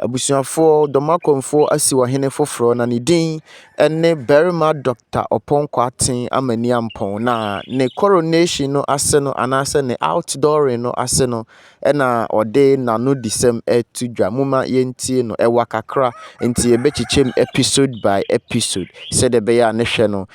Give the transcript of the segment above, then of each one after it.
Abusuafoɔ, Dɔmakɔmfoɔ asiw ɔhene foforɔ na ne din ne Barima Dɔkta Ɔpɔn Kwarteng Amaniampong na ne coronation no ase no anaasɛ ne outdooring no ase no na ɔde n'anodisɛm reto dwa. Momma yɛntie no. Ɛwa kakra nti yɛbɛkyekyɛm episode by episode sɛdeɛ ɛbɛyɛ a ne hwɛ no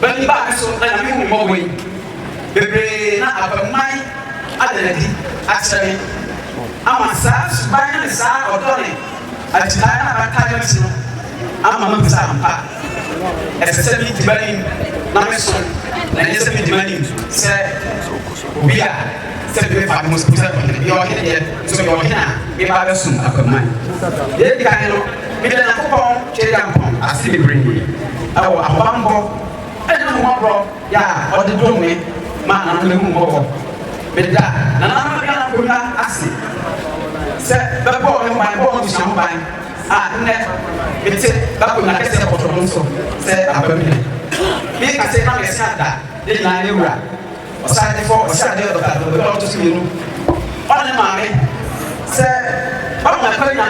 Ba bi baa me so na Nyame hu me mmɔbɔ yi bebree na abamman ada n'adi akyerɛ me ama saa suban ne saa ɔdɔ ne agyirae na abatae no nti no ama mahu sɛ ampa ɛsɛ sɛ medi m'anim na mesom na ɛnyɛ sɛ medi m'anim sɛ obi a sɛ bi mefa me ho sɛ ɔhene yɛ ɔhene deɛ nso yɛ ɔhene a meba bɛsom abamman deɛ ɛdi kan no Meda Nyankopɔn Tweaduampɔn ase bebree wɔ ahobammɔ ne n'ahummɔborɔ yɛ a ɔde dom me ma nananom ahummɔbɔ. Meda nananom anuanom Bonnua ase sɛ bɛbɔɔ me ho ban, bɔɔ m'abusua ho ban a nnɛ mete m'akonnwa kɛseɛ pɔtɔɔ no so sɛ Abamunyɛ. Meka sɛ na mɛse ada ne nyinaa ne wura. Ɔsan de fɔ ɔse adeɛ ɔdɔ kakra obi a ɔto so mmienu ɔne ne maame sɛ wanya akwanya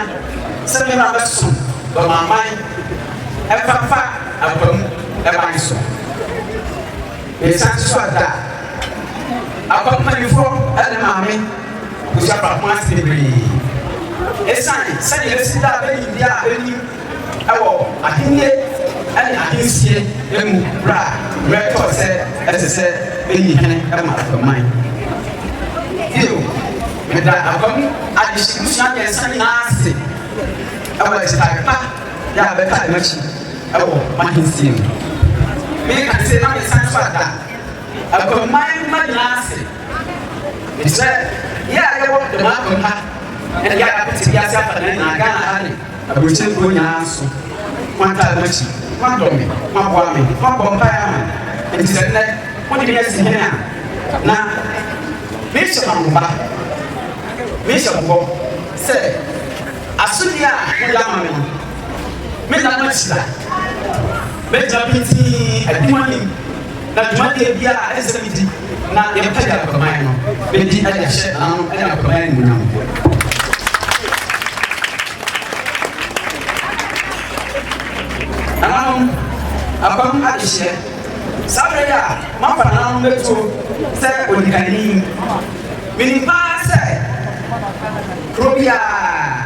sɛ me na mɛsom dɔmaman ɛmfafa akwa mu ɛban so. Mesan nso so ada akwa mpanyinfoɔ ɛne maame abusua baako ase bebree ɛsan sɛdeɛ ɛbɛsi da a bɛyindeɛ a bɛnim wɔ ahennie ne ahensie mu berɛ a berɛ tɔɔ sɛ ɛsɛ sɛ ɛyi hene ma aguaman. Bio, meda aguam adehye mmusua mmiɛnsa nyinaa ase wɔ akyitaeɛ pa yɛ a bɛtaa yɛn akyi wɔ m'ahensie mu. Meka no sei na mesan nso ada aguaman mma nyinaa ase. Ɛfisɛ yɛ a yɛwɔ dɛm aguam ha ɛne yɛ a yɛapete wiase afa nyinaa, Ghana ha ne Aburokyire kuro nyinaa nso, moantaa m'akyi, moadɔ me, moaboa me, moabɔ mpaeɛ ama me, enti sɛ nnɛ mode me asi hene a, na merehyɛ mo ahoba, merehyɛ mo bɔ sɛ, asodie a mode ama me no, merenna mo akyi da. Mɛgyina pintinn, adi mo anim, na dwumadie biara a ɛsɛ sɛ medi, Na yɛpɛgya aguaman no bɛdi de ahyɛ n'ano ne aguaman animuonyam. Nananom, apam adehyeɛ, saa berɛ yi a moafa nananom bɛtuo sɛ ɔdikani, menim paa sɛ kuro biara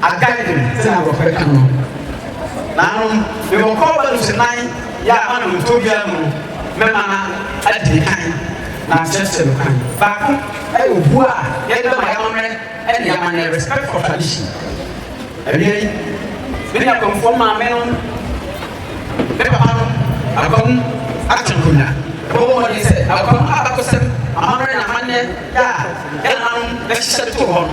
Agaden, sɛnea aborɔfo bɛka no no, naanom mewɔ kɔɔba lusenan yi a manom ntɔ obiara mu no, mɛma no adi me kan na makyerɛkyerɛ no kwan. Baako yɛ obu a yɛda ma yɛn amammerɛ ne amanneɛ, respect for tradition. Awia yi, me ne Akwamfoɔ maame no, me papa no, Akwam Akyɛnkonwa, yɛbɛbɔ mmɔden sɛ Akwam abakɔsɛm, amammerɛ ne amanneɛ a yɛn nananom bɛhyehyɛ de too hɔ no,